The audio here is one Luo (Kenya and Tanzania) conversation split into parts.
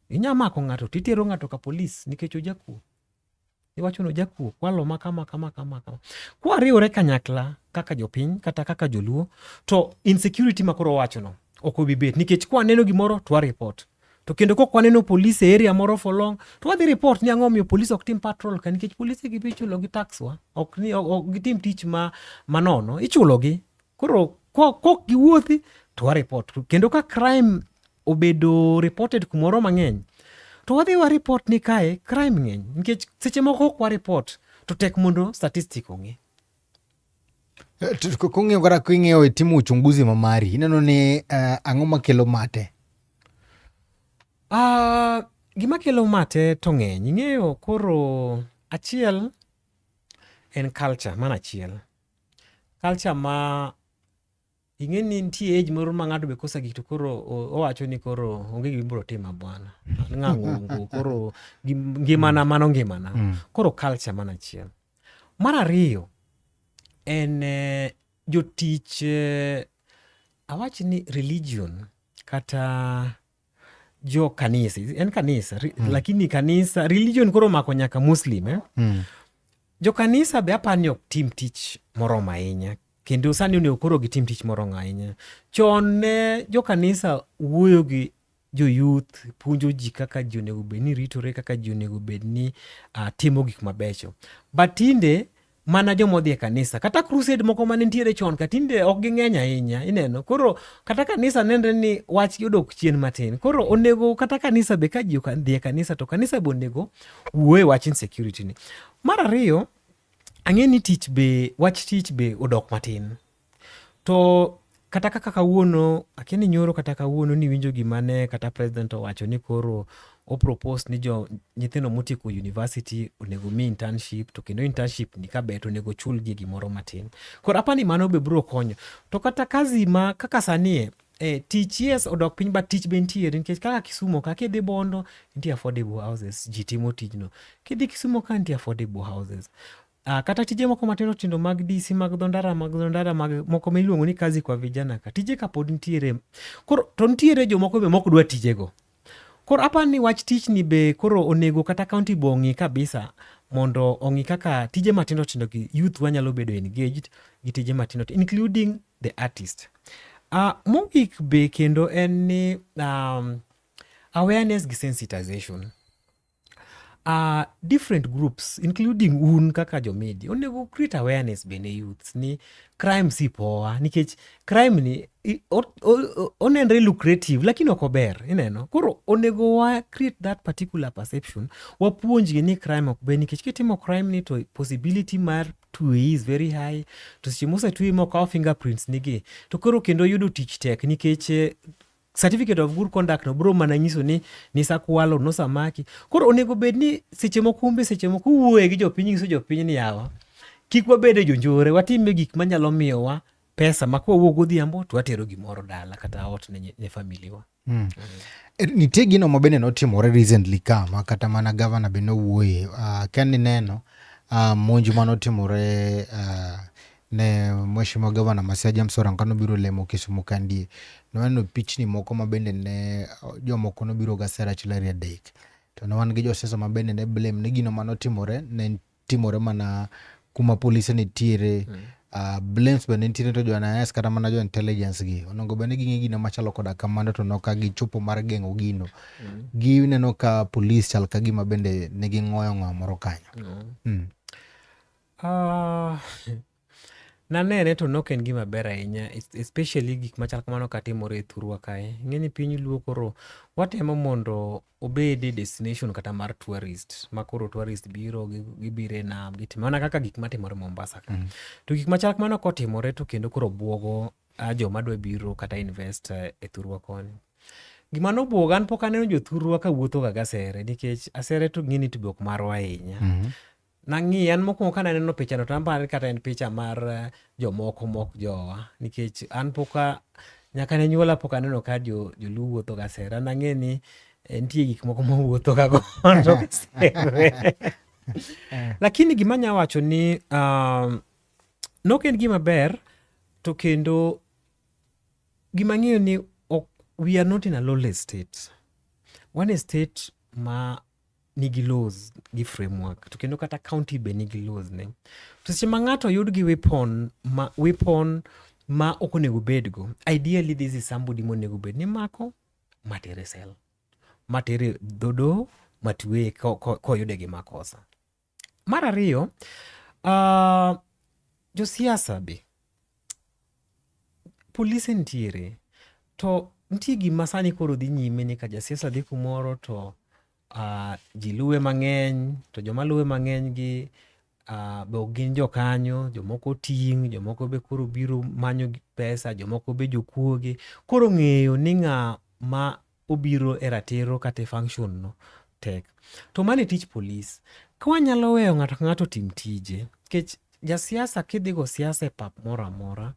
inya mako ng'ato to itero ng'ato ka polis nikech ojakuo. Iwacho ni ojakuo, kwalo ma kama kama kama kama. Kwariwore kanyakla kaka jopiny kata kaka joluo to insecurity ma koro owachono ok obi bet nikech kwaneno gimoro to waripot. To kendo kok waneno polis e area moro for long to wadhi report ni ang'o omiyo polis ok tim patrol ka nikech polise gi be ichulogi tax wa, ok gitim tich ma manono, ichulogi. Koro kok giwuothi to wareport kendo ka crime obedo reported kumoro mang'eny to wadhi wareport ni kae crime ng'eny nikech seche moko ok wareport to tek mondo statistic ong'e kong'eyo kata king'eyo itimo uchunguzi ma mari ineno ni uh, ang'o makelo mate uh, gima kelo mate to ng'eny ing'eyo koro achiel en culture mana achiel culture ma ing'e ni nitie age moro ma ng'ato be kosa gik to koro owacho ni koro onge gima ibiro tima bwana ng'angongo koro ngimana mm. mano ngimana mm. koro culture mana achiel mar ariyo en eh, jotich eh, awach ni religion kata jo kanisa en kanisa ri, mm. lakini kanisa religion koro mako nyaka muslim eh? mm. jo kanisa be apani ni ok tim tich moromo ahinya kendo sani onego koro gitim tich moromo ahinya chon ne jo kanisa wuoyo gi joyuth puonjo ji kaka ji onego bed ni ritore kaka ji onego bed ni uh, timo gik mabecho but tinde mana joma odhi e kanisa kata crusade moko mane nitiere chon ka tinde ok ging'eny ahinya ineno koro kata kanisa nenre ni wach odok chien matin koro onego kata kanisa be ka ji dhi e kanisa to kanisa be onego wuo e wach insecurity ni mar ariyo ang'e ni tich be wach tich be odok matin To kata kaka kawuono akia ni nyoro kata kawuono niwinjo gima ne kata president owacho ni koro opropose ni jo nyithindo motieko university onego mi internship to kendo internship ni kaber to onego chulgi gimoro matin koro apa ni mano be biro konyo to kata kazi ma kaka sanie eh, tich yes odok piny but tich be nitiere nikech kaka kisumo ka kidhi bondo nitie affordable houses ji timo tijno kidhi kisumo ka nitie affordable houses Uh, kata tije moko matindo tindo mag DC mag dhondara mag dhondara mag moko ma iluongo ni kazi kwa vijana ka tije ka pod nitiere koro to nitiere jomoko be mok dwa tijego koro apa ni wach tich ni be koro onego kata kaunti be ong'i kabisa mondo ong'i kaka tije matindo tindo gi youth wanyalo bedo engaged gi tije matindo tindo including the artist uh, mogik be kendo en ni um, awareness gi sensitization Uh, different groups including un kaka jomedia onego create awareness bende youths ni crime si poa nikech crime ni onenre lucrative lakini ok ober ineno koro onego wa create that particular perception wapuonjgi ni crime ok ber nikech kitimo crime ni to possibility mar tue is very high to seche mosetue mokawo fingerprints nigi to koro kendo yudo tich tek nikech eh, certificate of good conduct no bro mana nyiso ni nisakwalo nosamaki koro onego bed ni seche moko umbe seche moko uwuoye gi jopiny nyiso jopiny ni yawa kik wabed e jonjore watime gik manyalo miyowa pesa ma kwa wuok godhiambo to watero gimoro dala kata ot ne, ne familiwa mm. Mm. Eh, nitie gino ma bende notimore recently ka ma kata mana gavana be nowuoye uh, ah, ken ineno uh, ah, monj ma notimore uh, Ne Mheshimiwa Gavana ma Siaya James Orengo kane obiro lemo Kisumu kandie, ne waneno pichni moko ma bende ne jomoko nobiro ga sera chilari adek. To ne wan gi josiasa ma bende ne blame ni gino mane otimore ne timore mana kuma polise nitiere. Mm. Uh, blames bende nitiere to jo-NIS kata mana jo-intelligence gi onego bende ging'e gino machalo koda kamano to noka gichopo mar geng'o gino. Mm. Gineno ka polis chal ka gima bende ne ging'oyo ng'awa moro kanyo. Mm. Mm. Ah, nanene to nok en gima ber ahinya es- especially gik machal kamano katimore e thurwa kae ng'eni piny luo koro watemo mondo obed e destination kata mar tourist ma koro tourist biro gi- gibiro e nam gitimo mana kaka gik matimore mombasa ka to gik machal kamano kotimore to kendo koro bwogo ah, joma dwa biro kata invest eh, e thurwa koni gima nobwoga an pok aneno jothurwa ka wuothoga gasere nikech asere to ng'eni to be ok marwa ahinya nang'iye an mokwongo kane aneno pichano to anparo ni kata en picha mar eh, jomoko mok jowa nikech an poka nyaka ne nyuola pok aneno ka joluo wuotho ga sera nang'e ni eh, nitie gik moko mowuotho ga godo lakini gima nya wacho ni um, nok en gima ber to kendo gima ng'eyo ni we are not in a lowly state one state ma nigi laws gi framework to kendo kata county be nigi laws ne to seche ma ng'ato oyud gi weapon ma weapon ma ok onego bedgo ideally this is somebody monego bed ni mako matere sel matere dhodo matweye ko- ko- koyude gi makosa Mar ariyo, uh, josiasa be polise nitiere to nitie gima sani koro dhi nyime ni ka jasiasa dhi kumoro to uh, ji luwe mang'eny to joma luwe mang'eny gi uh, be ok gin jokanyo jomoko ting' jomoko be koro biro manyo pesa jomoko be jokuoge koro ng'eyo ni ng'a ma obiro e ratiro kata e function no tek. To mano e tich polis. Ka wanyalo weyo ng'ato ka ng'ato otim tije, nikech jasiasa kidhi go siasa e pap moro amora,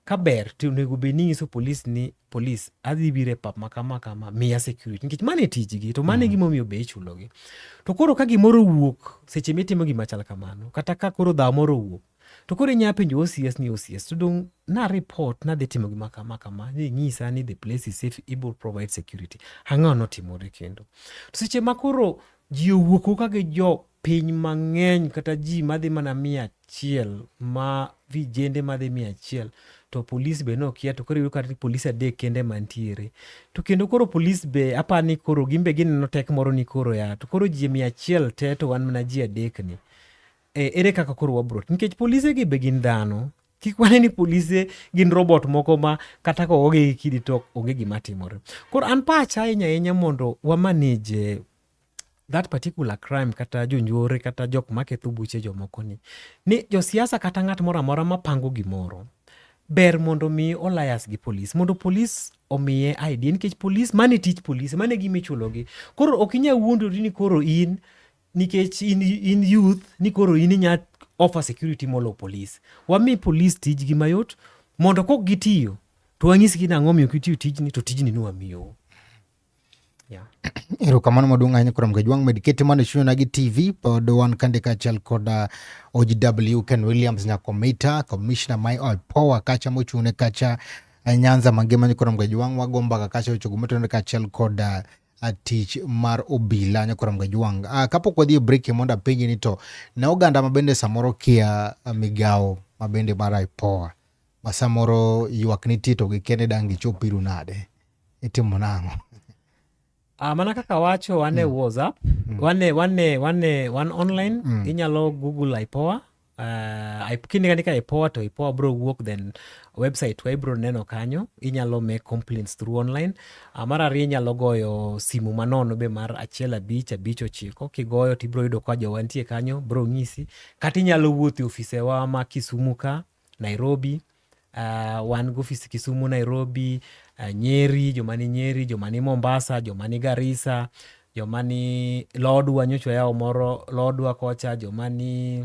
ka ber to onego bed ni inyiso polis ni polis adhi biro e pap ma kama kama miya security nikech mano e tijgi to mano e mm. gimomiyo be ichulogi. To koro ka gimoro owuok seche mitimo gima chal kamano kata ka koro dhawo moro owuok To koro inya penjo OCS ni OCS to dong na report nadhi timo gima kama kama ni nyisa ni the place is safe able provide security. Ang'o notimore kendo? To seche ma koro ji owuok wuoka gi jo piny mang'eny kata ji madhi mana mia achiel ma vijende madhi mia achiel to polis be nokia to koro iyudo kata polis adek kende mantiere to kendo koro polis be apa ni koro gin be gineno tek moro ni koro ya to koro ji mia achiel te to wan mana ji adek ni E, ere kaka koro wabro nikech polise gi be gin dhano kik wane ni polise gin robot moko ma kata ka oge gi kidi to onge gima timore koro an pacha ahinya ahinya mondo wamanage that particular crime kata jonjore kata jok maketho buche jomoko ni ni josiasa kata ng'at moro amora mapango gimoro ber mondo mi olayas gi polis mondo polis omiye idea nikech polis mane tich polis mane gima ichulogi koro ok inyal wuondori ni koro in nikech in, in youth ni koro in inya offer security molo police wami police tijgi mayot mondo kok gitiyo to wanyisgi nang'o miyo kitiyo tijni to tijni ni wamiyo yeah. erokamano maduong' ahinya kurom gajwang' med keto mana chunyona gi tv pod wan kande kaachiel kod uh, ogw ken williams nyakomita commissioner mai oipowa kacha mochung'ne kacha uh, nyanza mangima ni kurom gajwang' wago mbaka kacha ochogo motenore kaachiel kod uh, a tich mar obila nyakoram gajwang uh, kapok wadhi e break mondo apenji ni to ne oganda ma bende samoro kia migawo ma bende mar ipoa ma samoro ywak nitie to gikene dang' gichop iru nade itimo nang'o Uh, mana kaka wacho wane mm. whatsapp mm. wane wane wane wan online mm. inyalo google ipoa uh, kinde kani ka ipoa to ipoa bro wuok then website wa ibro neno kanyo inyalo make complaints through online uh, mar ariyo inyalo goyo simu manono be mar achiel abich abich ochiko kigoyo to ibro yudo ka jowa nitie kanyo bro ng'isi kata inyalo wuotho e ofisewa ma kisumu ka nairobi uh, wan gofis Kisumu, Nairobi, uh, Nyeri, joma ni Nyeri, joma ni Mombasa, joma ni Garissa, joma ni Lodwa nyocha wayawo moro Lodwa kocha, joma ni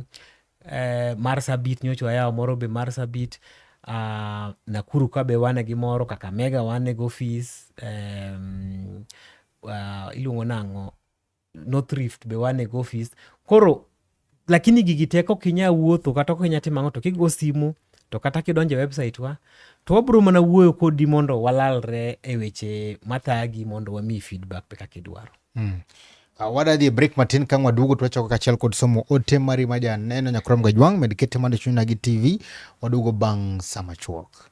eh, Marsabit nyocha wayawo moro be Marsabit. Uh, Nakuru ka be wane gi moro, Kakamega wane gofis um, uh, iluongo nang'o North Rift be wane go office koro lakini gigi teko ok inyal wuotho kata ok inyal timo ang'o to kigo simu to kata kidonjo e website wa to wabiro mana wuoyo kodi mondo walalre e weche mathagi mondo wamiyi feedback pe kaka idwaro mm. Uh, wadadhi e break matin kang waduogo twachoko kachiel kod somo ote mari ma janeno nyakrom gajwang' med kete mando chunyna gi tv waduogo bang' sama chuok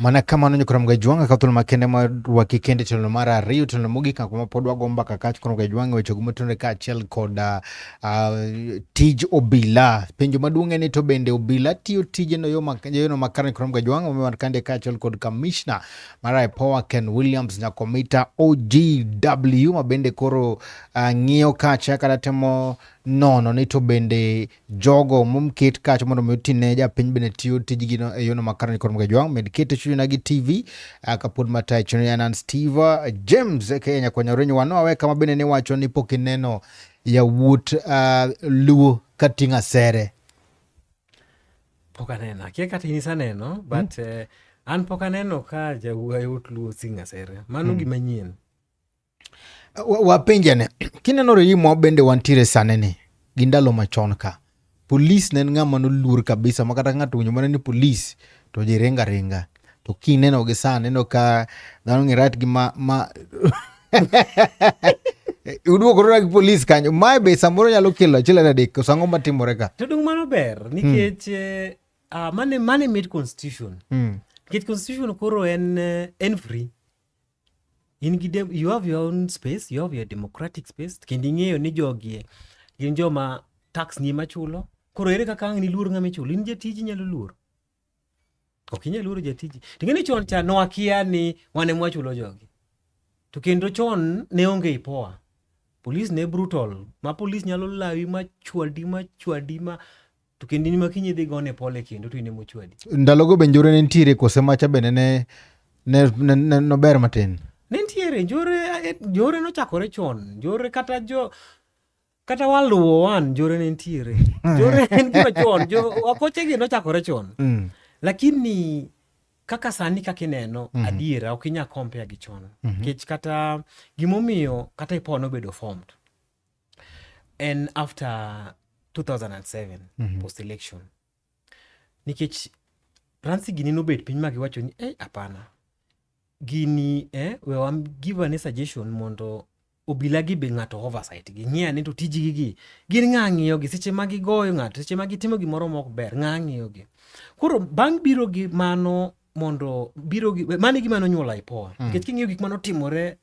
mana kamano nyo koromoga jwang' akaw thuolo makende marwaki kende tielo mar ariyo tielo mogik ako ma pod wago mbaka kach koromoga jwang' e wechego motenore kaachiel kod ah, ah, tij obila penjo maduong' en ni to bende obila tiyo tijeno yo mak- yono makare ni koromoga jwang' omiyo wan kande kaachiel kod kamishna mar ipoa ken williams nyakomita ogw ma bende koro ah, ng'iyo kacha kata temo nono ni to bende jogo momket kacha mondo mi otine japiny bende tiyo tijgino e yono makare nikod mga jwang' med kete chunyna gi tv ah, kapod matayo chuno yanan steve ah, james aka e nyakwanya orenyo wano awe kama bende ne wacho ni pok ineno yawuot uh, luo kating'o asere pok aneno akia kata in isaneno hmm? but mm. uh, an pok aneno ka jawuot luo sing'o asere mano mm. gima nyien Wapenjane, kineno Reimo bende wantiere sane ni gi ndalo machon ka polis ne en ng'ama noluor kabisa ma kata ng'ato winjo mana ni polis to ji ringa ringa to kineno gi sani ineno ka dhano ng'e rat gi ma, ma uduokorora gi polis kanyo mae be samoro nyalo kelo achiel ariyo adek koso ang'o matimore ka to dung mano ber hmm. nikech eh, ah, mane mane made constitution hmm. nikech constitution koro en eh, en free in gi dem you have your own space you have your democratic space kendo ing'eyo ni jogie gin joma tax ni ema chulo koro ere kaka ang' niluor ng'ama ichulo in jatiji inyalo luor ok inyal luoro jatiji to ng'eni chon cha nwakia ni wane mwachulo jogi to kendo chon ne onge ipoa polis ne brutal ma polis nyalo lawi ma chwadi ma chwadi ma to kendini ma kiny idhi gone pole kendo to in ema ochwadi ndalogo be njore ne nitiere kose macha bende ne ne- ne- ne- nober matin ne nitiere njore eh, njore nochakore chon njore kata jo kata waluwo wan njore ne nitiere njore en gima chon jo- wakochegi nochakore chon Mm, lakini kaka sani kaka ineno mm-hmm. adiera ok inya compare gi chon nikech mm-hmm. kata gimomiyo kata ipo nobedo formed en after 2007 mm -hmm. post election nikech ransi gini nobet piny ma giwacho ni ei hapana gini eh, we wam give ane suggestion mondo obila gi be ng'ato oversight gi ng'e ane to tijgi gi gin ng'a ng'iyo gi seche ma gigoyo ng'ato seche ma gitimo gimoro mok ber ng'a ng'iyo gi koro bang' biro gi mano mondo biro gi mano gima nonyuola ipoa mm. nikech mm. king'iyo gik manotimore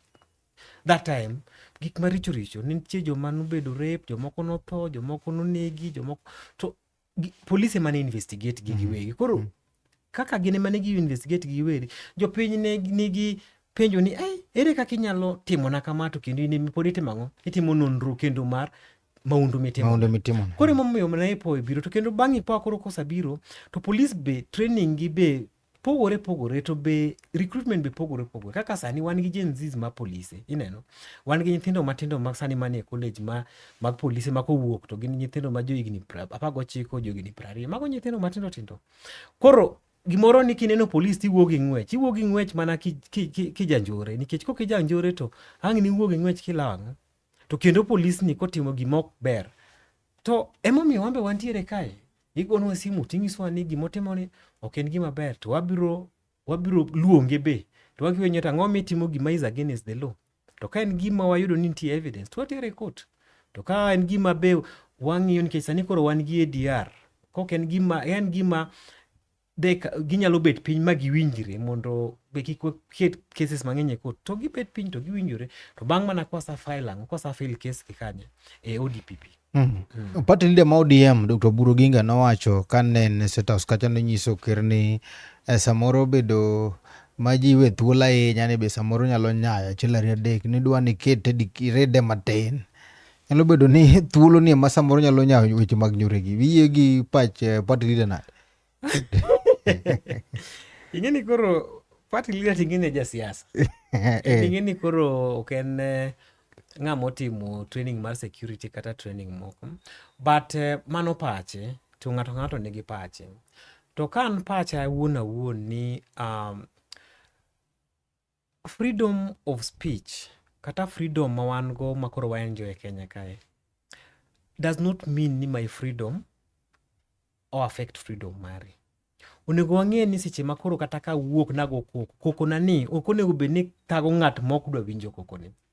that time gik maricho richo nitie joma nobedo rape jomoko notho jomoko nonegi jomoko to polise ema ne investigate gi mhm. giwegi koro mhm. kaka gin ema ne gi investigate gi giwegi jopiny ne nigi penjo ni eh, ere kaka inyalo timona kama to kendo in pod itimo ang'o itimo nonro kendo mar maundu mitimo koro emomiyo naipo biro to kendo bang' ipoa koro kosabiro to polis be training gi be pogore pogore to be recruitment be pogore pogore kaka sani wan gi Gen Zs ma polise ineno wan gi nyithindo matindo mag sani manie college ma mag polise ma kowuok to gin nyithindo ma johigni apar gochiko johigni piero ariyo mago nyithindo matindo tindo koro gimoro ni kineno polis to iwuog gi ng'wech iwuog gi ng'wech mana kijanjore nikech kok ijanjore to ang' ni iwuog gi ng'wech kilang' to kendo polisni kotimo gima ok ber To emomiyo wambe wantiere kae. Igonwa simu tinyisowa ni gimotimoni ok en gima ber to wabiro wabiro luonge be to wakiwe nyota ang'o mitimo gima is against the law to ka en gima wayudo ni nitie evidence to watere court to ka en gima be wang'iyo nikech sani koro wan gi ADR kok en gima en gima de ka- ginyalo bet piny ma giwinjre mondo be kik waket cases mang'eny e court to gibet piny to giwinjore to bang' mana kwasa file ang'o kwasa file case e kanye e odpp Mm. Party leader ma ODM Dr. Buru Ginga nowacho ka ne en e State House kacha nonyiso ker ni eh, samoro bedo ma ji we thuolo ahinya ni be samoro nyalo nyayo achiel ariyo adek ni dwa ni kete dikirede matin. Nyalo bedo ni thuolo ni ema samoro nyalo nyayo weche mag nyuregi. Wiye gi pach eh, party leader nade? ing'eni koro party leader ting'eni ja siasa eh. ing'eni koro ok en eh, ng'a motimo training mar security kata training moko but eh, mano pache to ng'ato ng'ato nigi pache to ka an pacha awuon awuon ni um, Freedom of speech kata freedom ma wan go ma koro wa enjoy e Kenya kae does not mean ni my freedom o affect freedom mari. Onego wang'e ni seche ma koro kata ka wuok nago koko, koko na ni ok onego bed ni thago ng'at mok dwa winjo koko ni.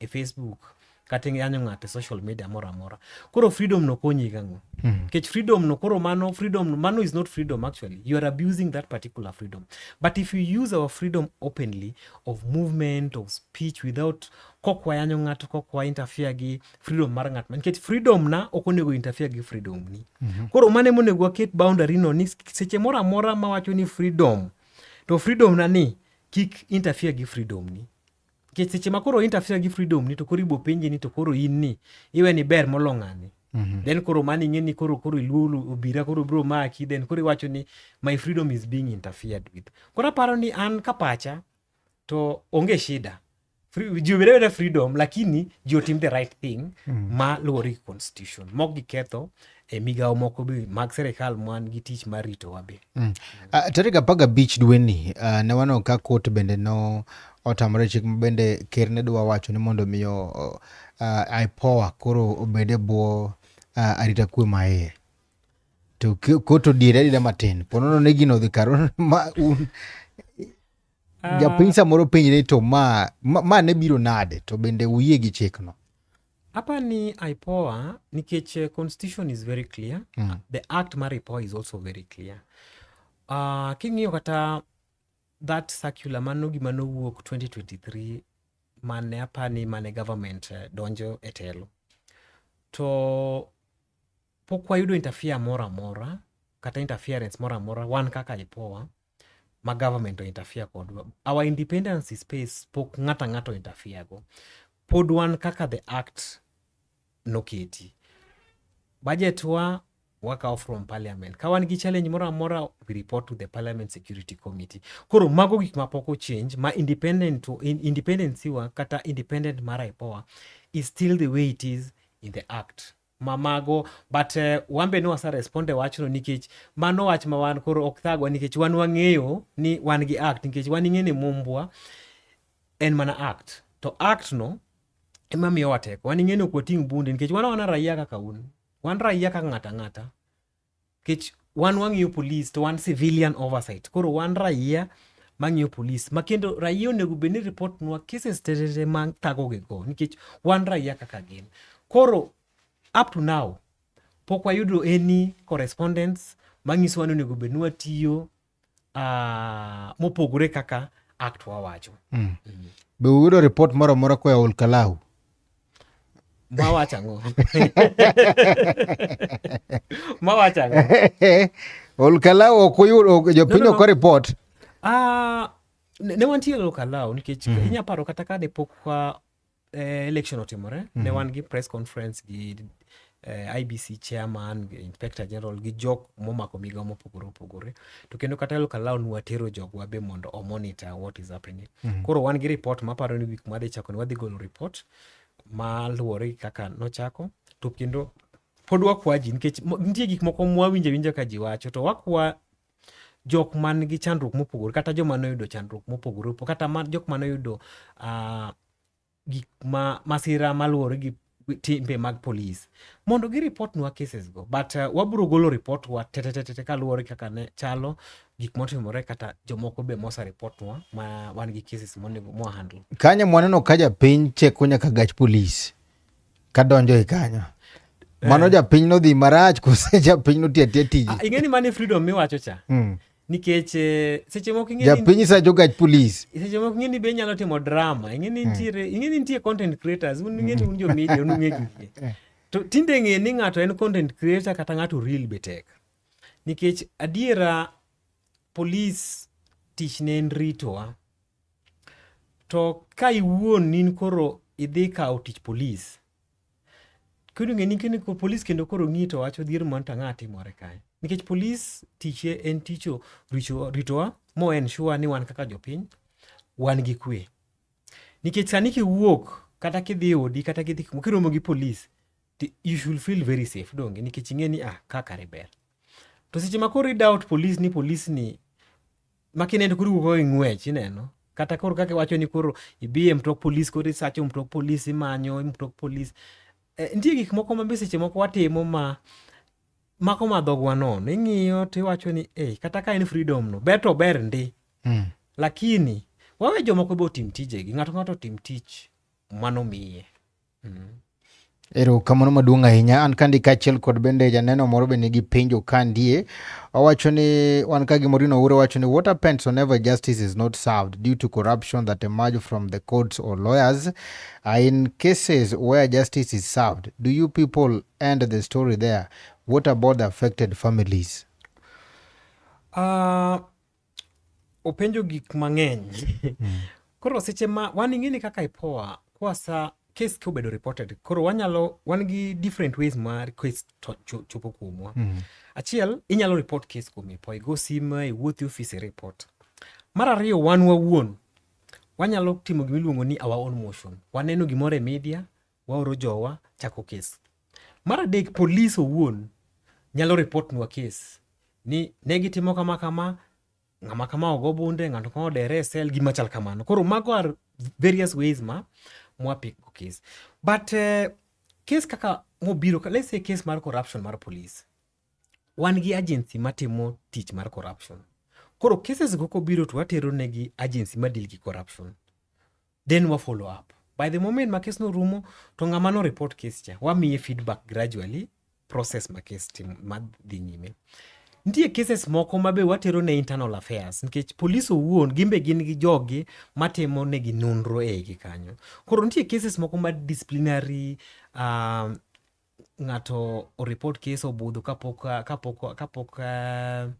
e Facebook kata iyanyo ng'ato e social media moro amora koro freedom no konyi gang'o hmm. kech freedom no koro mano freedom mano is not freedom actually you are abusing that particular freedom but if you use our freedom openly of movement of speech without kok wayanyo ng'ato kok wa interfere gi freedom mar ng'at nikech freedom na ok onego interfere gi freedom ni mm -hmm. koro mane monego waket boundary no ni seche moro amora mawacho ni freedom to freedom na ni kik interfere gi freedom ni nikech seche ma koro interfere gi freedom ni to koro ibo penji ni to koro in ni iwe ni ber molo ng'ani Mm -hmm. then koro mani ing'e ni koro koro iluo obira koro bro maki then koro iwacho ni my freedom is being interfered with koro aparo ni an ka pacha to onge shida ji obed abeda freedom lakini ji otim the right thing mm. ma luwore gi constitution mok giketho e migawo moko be mag sirikal man gi tich mar ritowa be. Mm. Uh, tarik apar gabich dweni uh, ne waneno ka kot bende no otamore chik ma bende ker ne dwa wacho ni mondo miyo uh, uh IPOA koro obede bwo uh, arita kwe maye to kot odiere adida matin ponono ne gino dhi kar ma un uh, japiny samoro penjre to ma, ma, ma ne biro nade to bende uyie gi chikno Hapa ni IPOA nikech eh, constitution is very clear. Mm. The act mar IPOA is also very clear. Uh, king'iyo kata that circular mano gima nowuok 2023 mane apani mane government eh, donjo e telo to pok wayudo interfere moro amora kata interference moro amora wan kaka IPOA ma government o interfere kodwa our independence space pok ng'ata ng'ato interfere go pod wan kaka the act noketi budget wa wakawo from parliament ka wan gi challenge moro amora we report to the parliament security committee koro mago gik ma pok ochange ma independent to in, independency wa kata independent mar ipoa is still the way it is in the act mamago but uh, eh, wambe ne wasa responde wachno nikech mano wach ma wan koro ok thagwa nikech wan wang'eyo ni wan gi act nikech wan ing'e ni mumbwa en mana act to act no ema miyowa teko wan ing'e ni ok wating' bunde nikech wan wana raia kaka un wan raia kaka ng'ata ng'ata kech wan wang'iyo police to wan civilian oversight koro wan raia mang'iyo police ma kendo raia onego bed ni report nwa cases terere ma thagogi go nikech wan raia kaka gin koro up to now pok wayudo any correspondence manyisowa ni onego bed ni watiyo uh, mopogore kaka act wawacho mm. Mm. be uyudo ripot moro amora koya olkalau mawacho ang'o mawacho ang'o olkalau ok uyudo jopiny no, no, no. ok ripot uh, ne wantiere olkalau nikech mm. inyaparo kata ka ne pok eh, election otimore mm -hmm. ne mhm. wan gi press conference gi eh, IBC chairman, inspector general gi jok momako migawo mopogore opogore to kendo kata elok alaw nwatero jogwa be mondo omonitor what is happening mm -hmm. koro wan gi report maparo ni wik madhi chako ni wadhi golo report maluwore gi kaka nochako to kendo pod wakwa ji nikech nitie gik moko mwawinjo awinja ka ji wacho to wakwa jok man gi chandruok mopogore kata joma noyudo chandruok mopogore opogore kata ma, jok ma noyudo uh, gik ma masira maluwore gi timbe mag polis mondo gi report nwa cases go but uh, wabro golo report wa tetetetete kaluwore kaka ne chalo gik motimore kata jomoko be mosa report nwa ma wan gi cases monego mwa handle kanyo mwaneno ka japiny cheko nyaka gach polis kadonjo e kanyo eh. mano japiny nodhi marach kose japiny notiya tiya tiji ah, ing'eni mane freedom miwacho cha mm. nikech eh, seche moko ing'eni japiny sa jogach police seche moko ing'eni be inyalo timo drama ing'eni hmm. nitiere mm. ing'eni nitie content creators un ing'eni un jo media un ung'e gigi eh. to tinde ng'e ni ng'ato en content creator kata ng'ato real be tek nikech adiera police tich ne en ritowa To ka iwuon nin koro idhi kawo tich polis, kendo ng'eni kendo ko polis kendo koro ng'i to wacho dhier man to ang'a timore kae. Nikech polis tiche en ticho richo ritowa mo en sure ni wan kaka jopiny wan gi kwe. Nikech sani kiwuok kata kidhi odi kata kidhi kuma kiromo gi polis ti you should feel very safe donge nikech ing'e ni ah ka kare ber. To seche ma koro i doubt polis ni polis ni ma kineno koro wuok e ng'wech ineno kata koro kaka iwacho ni koro ibi e mtok polis koro isacho mtok polis imanyo e mtok polis eh, nitie gik moko ma be seche moko watimo ma mako madhogwa nono ing'iyo to iwacho ni e kata ka en freedom no ber to ber ndi mm. lakini wawe jomoko be otim tijegi ng'ato ng'ato otim tich manomiye Mm-hmm. Ero kamano maduong' ahinya. An kandi kaachiel kod bende janeno moro be nigi penjo kandie. Owacho ni wan ka gimoro ino ure wacho ni what happens whenever justice is not served due to corruption that emerge from the courts or lawyers. Uh, in cases where justice is served, do you people end the story there? What about the affected families? Uh, openjo gik mang'eny mm. koro seche ma wan ing'eni kaka ipoa kwasa case ka obedo reported koro wanyalo wan gi different ways ma case chopo kuomwa mm. achiel inyalo report case kuom ipoa igo sim iwuothi office report mar ariyo wan wawuon wanyalo timo gima iluongo ni our own motion waneno gimoro e media waoro jowa chako kes. Mar adek, polis owuon nyalo ripotnwa kes ni ne gitimo kama kama, ng'ama kama ogo bunde, ng'ato kama odere e sel, gima chal kamano. Koro mago are various ways ma mwapiko kes. But uh, kes kaka mobiro, let's say kes mar corruption mar polis, wan gi agency matimo tich mar corruption. Koro cases go kobiro to watero negi agency madil gi corruption. then wa follow up by the moment ma kes norumo to ng'ama no report kes cha wamiye feedback gradually process ma kes tim ma dhi nyime nitie cases moko ma be watero ne internal affairs nikech polis owuon gin be gin gi jogi matimo negi nonro e igi kanyo koro nitie cases moko ma disciplinary uh, ng'ato oreport kes obudho kapok kapok kapok uh,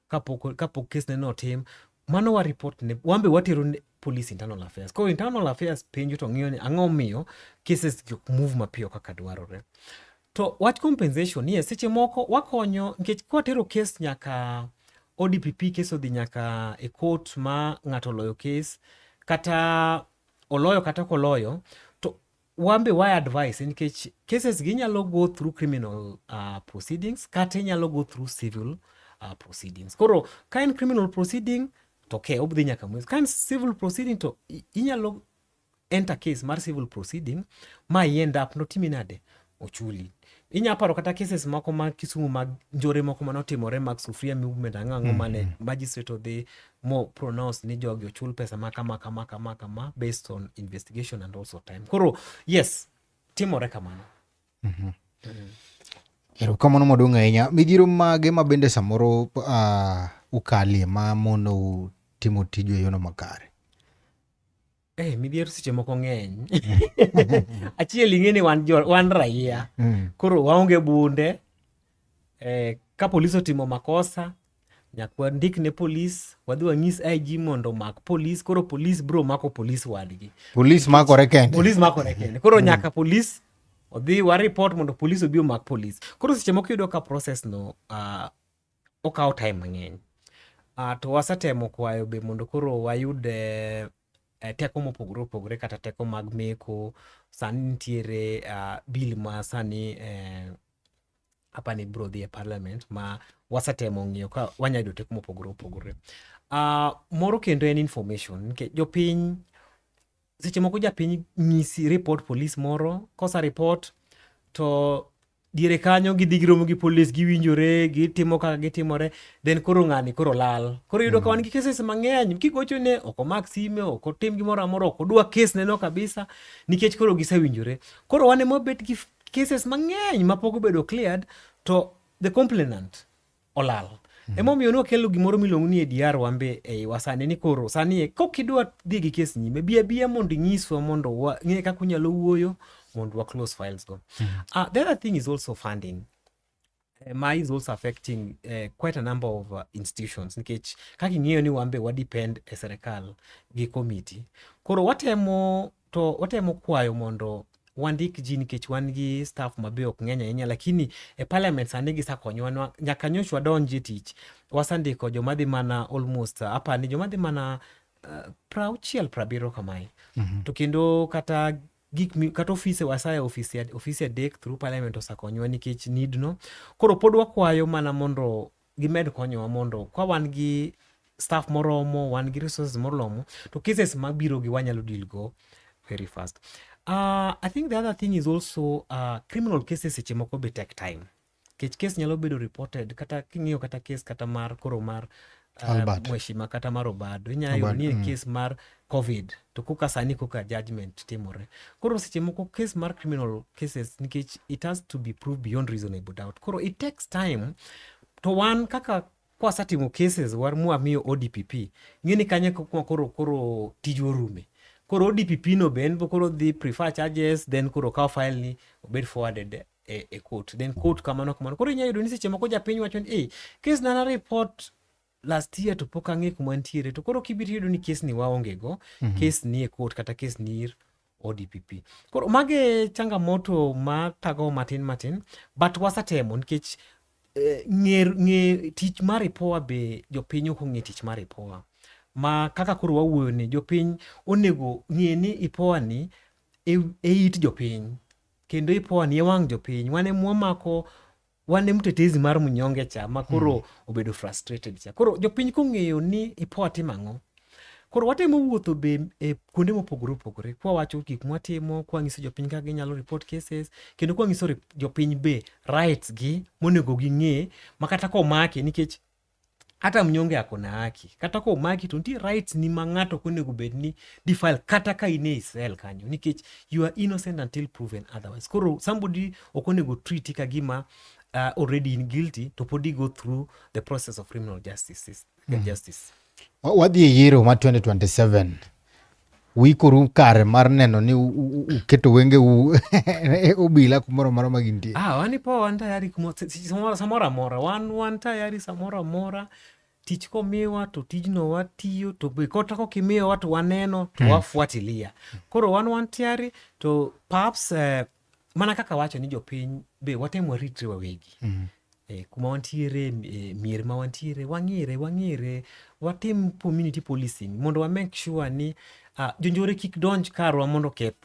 kapok kapok kes neno otim mano wa report ne wambe watero ne police internal affairs koro internal affairs penjo to ng'iyo ni ang'o miyo cases jok move mapiyo kaka dwarore to wach compensation yes seche moko wakonyo nikech kwatero kes nyaka odpp kes odhi nyaka e court ma ng'ato oloyo kes kata oloyo kata koloyo to wan be wa advice nikech cases gi nyalo go through criminal uh, proceedings kata inyalo go through civil uh, proceedings koro ka en criminal proceeding to ke obdhi nyaka mwezi ka en civil proceeding to inyalo enter case mar civil proceeding ma i end up notimi nade ochuli inya paro kata cases moko ma Kisumu mag njore moko mane otimore mag sufuria movement ang'o ang'o mm -hmm. mane magistrate odhi more pronounced ni jogi ochul pesa ma kama kama kama kama based on investigation and also time koro yes timore kamano mm -hmm. mm. erokamano maduong' ahinya midhiro mage ma bende samoro uh, ukalie ma monou timo tiju e yono makare Eh, midhiero seche moko ng'eny. Achiel ing'e ni wan, wan raia. Mm. Koro waonge bunde. Eh, ka polis otimo makosa, nyaka wandik ne polis, wadhi wanyis IG mondo omak polis, koro polis bro mako polis wadgi. Polis makore kende. Polis makore kende. Koro mm. nyaka polis odhi waripot mondo polis obi omak polis. Koro seche moko iyudo ka process no uh, okawo time mang'eny. Uh, to wasetemo kwayo be mondo koro wayud eh, eh, teko mopogore opogore kata teko mag meko sani nitiere uh, bill ma sani eh, apani ibiro dhi e parliament ma wasetemo ng'iyo ka wanya yudo teko mopogore opogore uh, moro kendo en information nikech jopiny seche moko japiny nyisi report polis moro kosa report to diere kanyo gidhi giromo gi polis giwinjore gitimo kaka gitimore then koro ng'ani koro lal koro yudo mm. ka wan gi cases mang'eny kigochone ok omak sime ok otim gimoro amora ok odwa kes neno kabisa nikech koro gisewinjore koro wan ema wabet gi cases mang'eny mapok obedo cleared to the complainant olal. Mm-hmm. Emomiyo nwakelo gimoro miluongo ni ADR wambe eiwa sani ni koro sani e, kok idwa dhi gi kes nyime bi abiya mondo inyiswa mondo ng'e kaka unyalo wuoyo mondo wa close files go. Mm. Uh, the other thing is also funding. Eh, ma is also affecting uh, quite a number of uh, institutions nikech kaka ing'eyo ni wambe wadepend e serikal gi committee koro watemo to otemo kwayo mondo wandik ji nikech wan gi staff mabe ok ng'eny ahinya lakini e parliament sani gisakonyowa nyaka nyocha wadonj e tich wasendiko joma dhi mana almost apa ni joma dhi mana uh, prauchiel prabiro kamae mm -hmm. to kendo kata gik kata ofise wasaye ofise ofise adek through parliament osakonyowa nikech need no koro pod wakwayo mana mondo gimed konyowa mondo kwa wan gi staff moromo wan gi resources moromo to cases mabiro gi wanyalo deal go very fast uh, i think the other thing is also uh, criminal cases seche moko be take time kech case nyalo bedo reported kata king'iyo kata case kata mar koro mar uh, Albert. mheshima kata mar obado inyalo yudo Albert, ni e mm. case mar covid to koka sani koka judgment timore koro seche moko case mar criminal cases nikech it has to be proved beyond reasonable doubt koro it takes time to wan kaka kwasatimo cases war mwamiyo odpp ng'e ni kanye kuma koro koro tij orume koro odpp no be en bo koro dhi prefer charges then koro kawo file ni obed forwarded e, e court then court kamano kamano koro inyalo yudo ni seche moko japiny wacho ni hey, case nana report last year to pok ang'e kuma nitiere to koro kibiro yudo ni kes ni waonge go mm -hmm. kes ni e court kata kes ni ir ODPP. Koro mage changamoto ma tago matin matin but wasatemo nikech eh, ng'e ng'e tich mar ipoa be jopiny ok ong'e tich mar ipoa ma kaka koro wawuoyo ni jopiny onego ng'e ni ipoa ni e, e it jopiny kendo ipoa ni e wang' jopiny wane mwamako wane mtetezi mar mnyonge cha ma koro mm. obedo frustrated cha koro jopiny kong'eyo ni ipo atimo ang'o koro watemo wuotho be e kuonde mopogore opogore kwawacho gik mwatimo kwang'iso jopiny kaka ginyalo report cases kendo kwang'iso jopiny be rights gi monego ging'e makata komake nikech Hata mnyonge ako na haki. Kata ko omaki to nitie rights ni ma ng'ato ok onego bed ni defile kata ka in e Israel kanyo nikech you are innocent until proven otherwise. Koro somebody ok onego treat ka gima uh, already in guilty to podi go through the process of criminal justice. Mm. justice. Wadhi e yiero ma 2027 uikuru kare mar neno ni uketo wenge u e obila kumoro moro ma gintie ah, wan ipo wan tayari samoro amora wan wan tayari samoro amora tich komiwa to tijno watiyo to be kota kok imiyowa to waneno to hmm. wafuatilia koro wan wan tayari to perhaps uh, mana kaka wacho ni jopiny be watemo waritre wawegi mm -hmm. E, kuma wantiere e, mier ma wantiere wang'ere wang'ere watim community policing mondo wa make sure ni uh, jonjore kik donj karwa mondo keth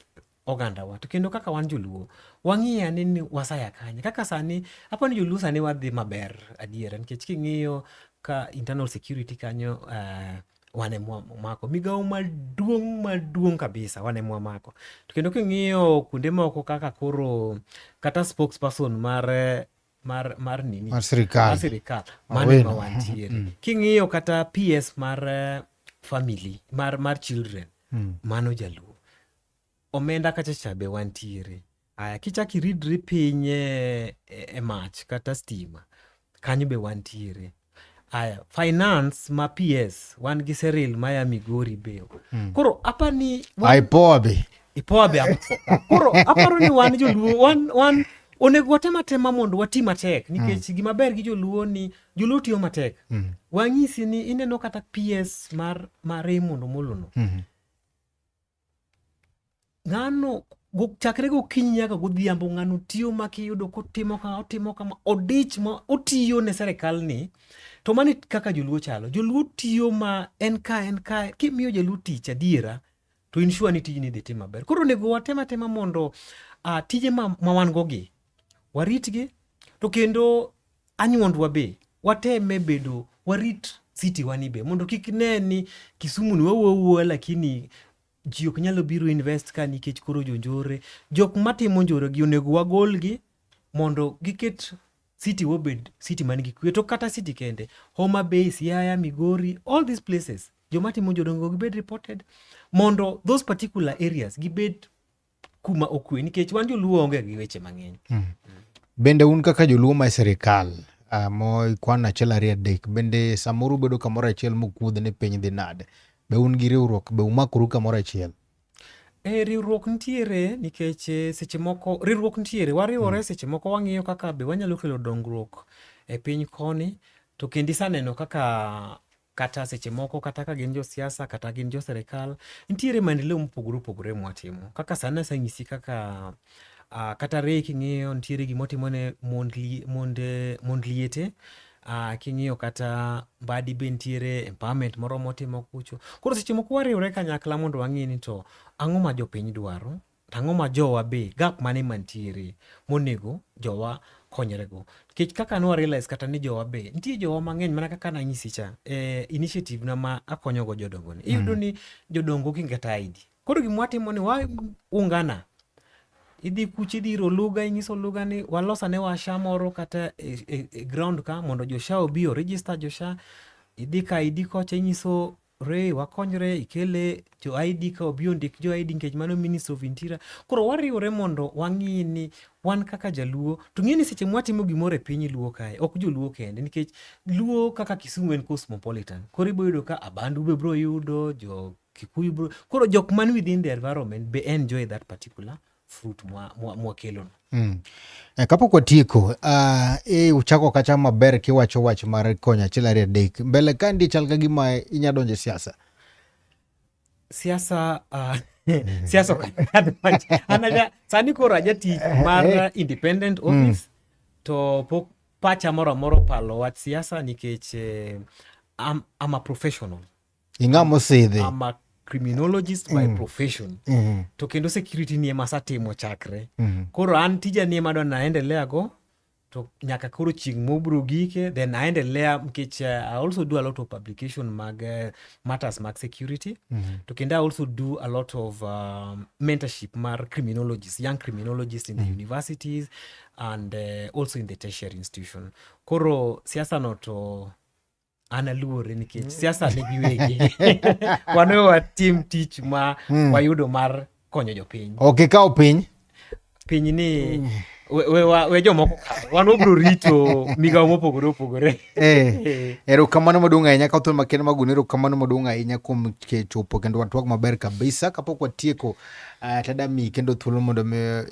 ogandawa to kendo kaka wan joluo wang'iyo ane ni wasaya kanye kaka sani apo ni joluo sani wadhi maber adiera nikech king'iyo ka internal security kanyo uh, wane mwamako migawo maduong' maduong' kabisa wane mwamako to kendo king'iyo kuonde moko kaka koro kata spokesperson mar mar mar nini mar sirikal mar sirikal mano ema wantiere mm. king'iyo kata PS mar eh, family mar mar children mm. mano jaluo omenda kacha cha be wantiere Aya, kichak iridri piny e, e, e mach kata stima, kanyo be wantiere. Aya, finance ma PS, wan gi Seril ma ya Migori be. Hmm. Koro apa ni... Wan... Ipoa be. Ipoa be. Koro aparo ni wan joluo, wan, wan onego watem atema mondo wati matek nikech mm. gima ber gi joluo ni joluo tiyo matek mm. wang'isi ni ineno kata ps mar, mar Raymond Omolono mm -hmm. ng'ano chakre gokinyi nyaka godhiambo ng'ano tiyo makiyudo kotimo ka otimo kama odich ma otiyo ne serikal ni to mani kaka joluo chalo joluo tiyo ma en ka en ka kimiyo jaluo tich adiera to insure ni tijni dhi tim maber koro onego watem atema mondo uh, tije ma, ma wan gogi waritgi to kendo anyuondwa be wateme bedo warit city wani be mondo kik ne ni Kisumu ni wawuo lakini ji ok nyalo biro invest ka nikech koro jonjore jok matimo njore gi onego wagolgi mondo giket city wobed city man gi kwe to kata city kende Homa Bay, Siaya, Migori, all these places joma timo njore onego gibed reported mondo those particular areas gibed kuma okwe nikech wan joluo onge gi weche mang'eny mm. bende un kaka joluo ma sirikal uh, moikwan achiel ariyo adek bende samoro ubedo kamoro achiel mokuodh ni piny dhi nade be un gi riwruok be umakuru kamoro achiel E, riwruok nitiere nikech eh, seche moko riwruok nitiere wariwore mm. seche moko wang'iyo kaka be wanyalo kelo dongruok e piny koni to kendo isaneno kaka kata seche moko kata ka gin josiasa kata gin jo serikal nitiere maendeleo mopogore opogore mwatimo kaka sani aseng'isi kaka uh, kata reye king'iyo nitiere gima otimo ne mond, li, mond, mond liete uh, king'iyo kata mbadi be nitiere empowerment moro motimo kucho koro seche moko wariwre kanyakla mondo wang'e ni to ang'o ma jopiny dwaro Tang'o ma jowa be gap mane mantiere monego jowa konyrego. Nikech kaka nwa realize kata ni jowa be nitie jowa mang'eny mana kaka nanyisi cha e eh, initiative na ma akonyogo jodongo ni. Iyudo mm. ni jodongo kinge kata ID. Koro gima watimo ni wa ungana idhi kuch idhi iro lugha inyiso lugha ni walosa ne washa moro kata e, e, e ground ka mondo josha obi o register josha idhi ka idi kocha inyiso re wakonyre ikele jo ID ka obi ondik jo ID nikech mano Ministry of Interior. Koro wariwore mondo wang'i ni wan kaka jaluo to ng'e ni seche mwatimo gimoro e piny luo kae ok joluo kende nikech luo kaka Kisumu en cosmopolitan. Koro ibiro yudo ka Abandu be biro yudo jo Kikuyu bro. Koro jok man within the environment be enjoy that particular fruit mwa, mwa, mwa kelono mm. Eh, kapok watieko uh, ah, e eh, uchako kacha maber kiwacho wach mar konyo achiel ariyo adek mbele ka ndi chal ka gima inya donjo e siasa siasa uh, siasa okanaja sani koro aja tich eh, mar independent mm. office mm. to pok pacha moro amora opalo wach siasa nikech eh, I'm, I'm a professional ing'a mosidhi criminologist by mm. profession mm -hmm. to kendo security ni ema satimo chakre mm -hmm. koro an tija ni ema adwa naendelea go to nyaka koro chieng' mobro gike then aendelea nikech uh, i also do a lot of publication mag uh, matters mag security mm -hmm. to kendo i also do a lot of uh, mentorship mar criminologist young criminologist in mm -hmm. the mm-hmm. universities and uh, also in the tertiary institution koro siasano to an aluore nikech siasa ne giwegi wan watim tich ma hmm. wayudo mar konyo jopiny ok ikaw piny piny ni hmm. we, we, we jomoko wan wabro rito migawo mopogore opogore eh, erokamano maduong' ahinya ka thon makende maguni erokamano maduong' ahinya kuom chopo kendo watwak maber kabisa kapok watieko uh, tadami kendo thuolo mondo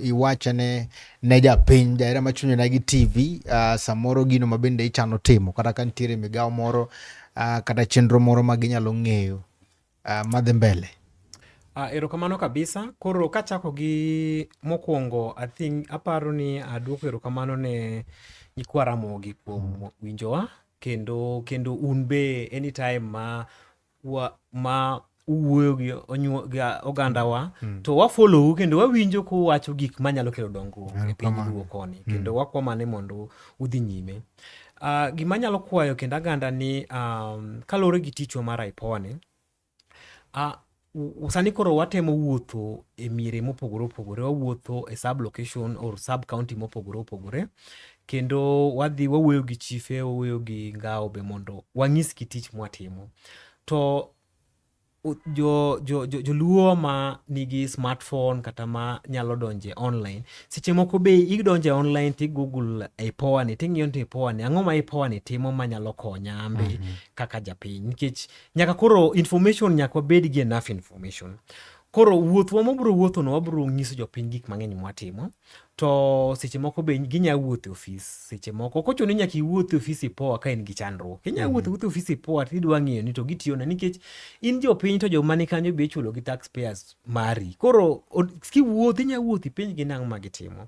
iwachane ne japiny jahera machunyo na gi tv uh, samoro gino ma bende ichano timo kata ka nitiere migawo moro uh, kata chenro moro ma ginyalo ng'eyo uh, madhi mbele Uh, erokamano kabisa koro kachako gi mokwongo i think aparo ni aduoko erokamano ne nyikwa ramogi kuom winjowa kendo kendo un be anytime ma wa ma uwuoyo gi onyuo- gi ogandawa to wafolou kendo wawinjo kuwacho gik manyalo kelo dongruok e piny luo koni kendo wakwamane mondo udhi nyime Ah, gima anyalo kwayo kendo aganda ni um, kaluwore gi tichwa mar aipone Ah, u- u- sani koro watemo wuotho e miere mopogore opogore wawuotho e sub location or sub county mopogore opogore kendo wadhi wawuoyo gi chife wawuoyo gi ngawo be mondo wang'isgi tich mwatimo to joluo jo, jo ma nigi smartphone kata ma nyalo donje online seche moko be idonje online ti google ipoa ni ting'iyo ni ipoa ni ang'o ma ipoa ni timo ma nyalo konya ambe mm -hmm. kaka japiny nikech nyaka koro information nyaka wabed gi enough information Koro wuothwa mabiro wuothono wabiro nyiso jopiny gik mang'eny mwatimo to seche moko be ginya wuotho e ofis seche moko ok ochuno ni nyaka iwuoth e ofis ipoa ka in gi chandruok inya mhm. wuotho wuotho e ofis ipoa to idwa ng'iyo ni to gitiyona nikech in jopiny to joma ni kanyo be ichulo gi tax payers mari koro kiwuoth inya wuoth ipiny gi nang'o ma gitimo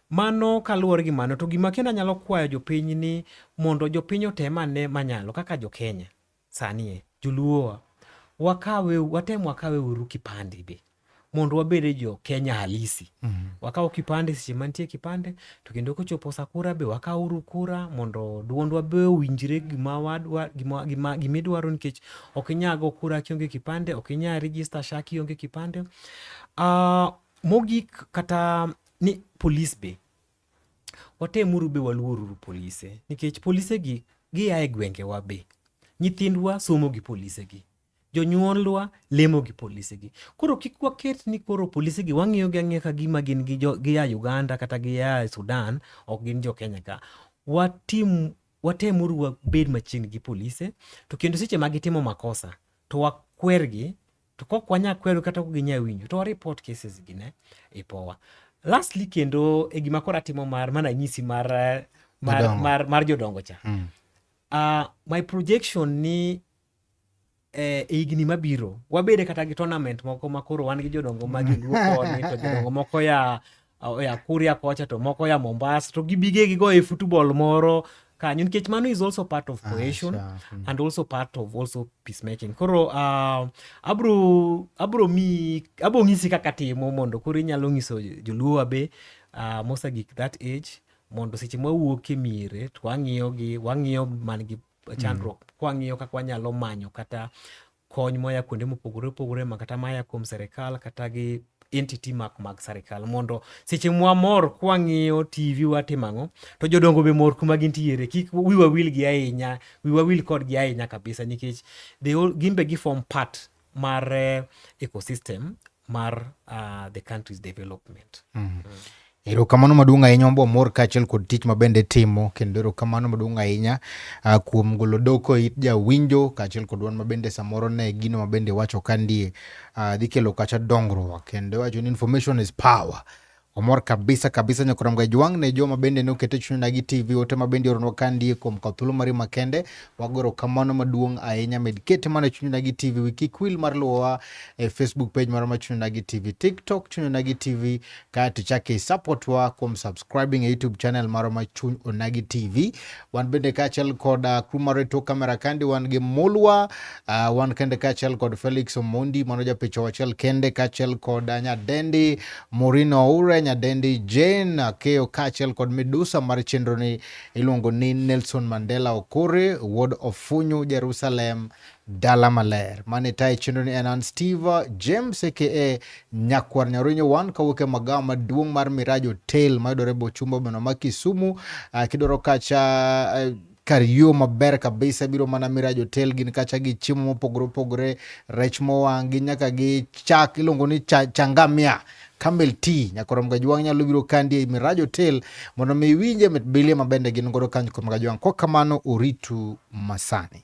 mano kaluwore gi mano to gima kendo anyalo kwayo jopiny ni mondo jopiny otem ane manyalo kaka jokenya Sani e, joluowa, wakawe, watem wakawe uru kipande be mondo wabede jo Kenya halisi. Mm -hmm. Wakawo kipande seche mantie kipande to kendo kochopo sa kura be wakawo uru kura mondo dwondwa be owinjre gima wadwa gima gima gima idwaro nikech ok inyal go kura kionge kipande, ok inyal register SHA kionge kipande. Uh, mogik kata ni police be watemuru be waluoruru polise nikech polise gi gia e gwengewa be nyithindwa somo gi polise gi jonyuolwa lemo gi polise gi koro kik waket ni koro polise gi wang'iyo gi ang'iya ka gima gin gi gia uganda kata gia sudan ok gin jo kenya ka watim watemuru wabed machiegni gi polise to kendo seche ma gitimo makosa to wakwergi to kok wanya kwedo kata ok ginya winjo to report cases gi ne ipowa lastly kendo e gima koro atimo mar mana nyisi mar eh, mar, jodongo. mar, mar jodongo cha mm. uh, my projection ni eh, e higni mabiro wabede kata gi tournament moko makoro wan gi jodongo ma joluo koni to jodongo moko ya oya Kuria kocha to moko ya Mombasa to gibige gigo e football moro kanyo nikech mano is also part of ah, cohesion ah, sure. Hmm. and also part of also peacemaking koro uh, abro abro mi abo ng'isi kaka timo mondo koro inyalo ng'iso joluowa be uh, mosa gik that age mondo seche mwawuok e miere to wang'iyogi wang'iyo man gi chandruok mm. kwang'iyo kaka wanyalo manyo kata kony moya kuonde mopogore opogore ma kata maya kuom serikal kata gi entity mak mag serikal mondo seche mwa mor kwang'iyo tv watimo ang'o to jodongo be mor kuma gintiere kik wiwa wil gi ahinya wiwa wil kodgi ahinya kabisa nikech gin be gifom part mar eh, ecosystem mar uh, the country's development mm. Mm. Erokamano maduong' ahinya wambo mor kaachiel kod tich ma bende timo kendo erokamano maduong' ahinya uh, kuom golo doko it jawinjo kaachiel kod wan mabende samoro ne gino mabende iwacho ka ndie uh, dhi kelo kacha dongruok kendo iwacho ni information is power Omor kabisa kabisa nyokorom ga jwang ne joma bende ne okete chuny na gi TV ote ma bende oronwa ka ndie kuom ka thuolo mari makende wagoro kamano maduong ahinya med kete mana chuny na gi TV wiki kwil mar luwa e Facebook page mar ma chuny na gi TV TikTok chuny na gi TV ka to chake support wa kuom subscribing e YouTube channel mar ma chuny na gi TV wan bende kaachiel kod uh, crew mar tok kamera kandi wan gi mulwa uh, wan kende kaachiel kod felix omondi mano japicho achiel kende kaachiel kod uh, nyadendi morino oure nyadendi jane akeyo kaachiel kod midusa mar chenroni iluongo ni nelson mandela okore wuod ofunyu jerusalem Dala Maler. Mane tayo chenro ni en an Steve James aka Nyakwar Nyarinyo One kawuok e magawa maduong' mar Miraji Hotel mayudore Bochumba boma ma Kisumu. Uh, kidwaro kacha uh, kar yo maber kabisa biro mana mira jotel gin kacha gi chiemo mopogore opogore rech mowang' gi nyaka gi chak iluongo ni cha, changamia Camel Tea Nyakorom Gajwang' nyalo biro kandi ei Miraj Hotel mondo mi iwinje mit bilie mabende gin godo kanyo kuom Gajwang'. Kwa kamano oritu masani.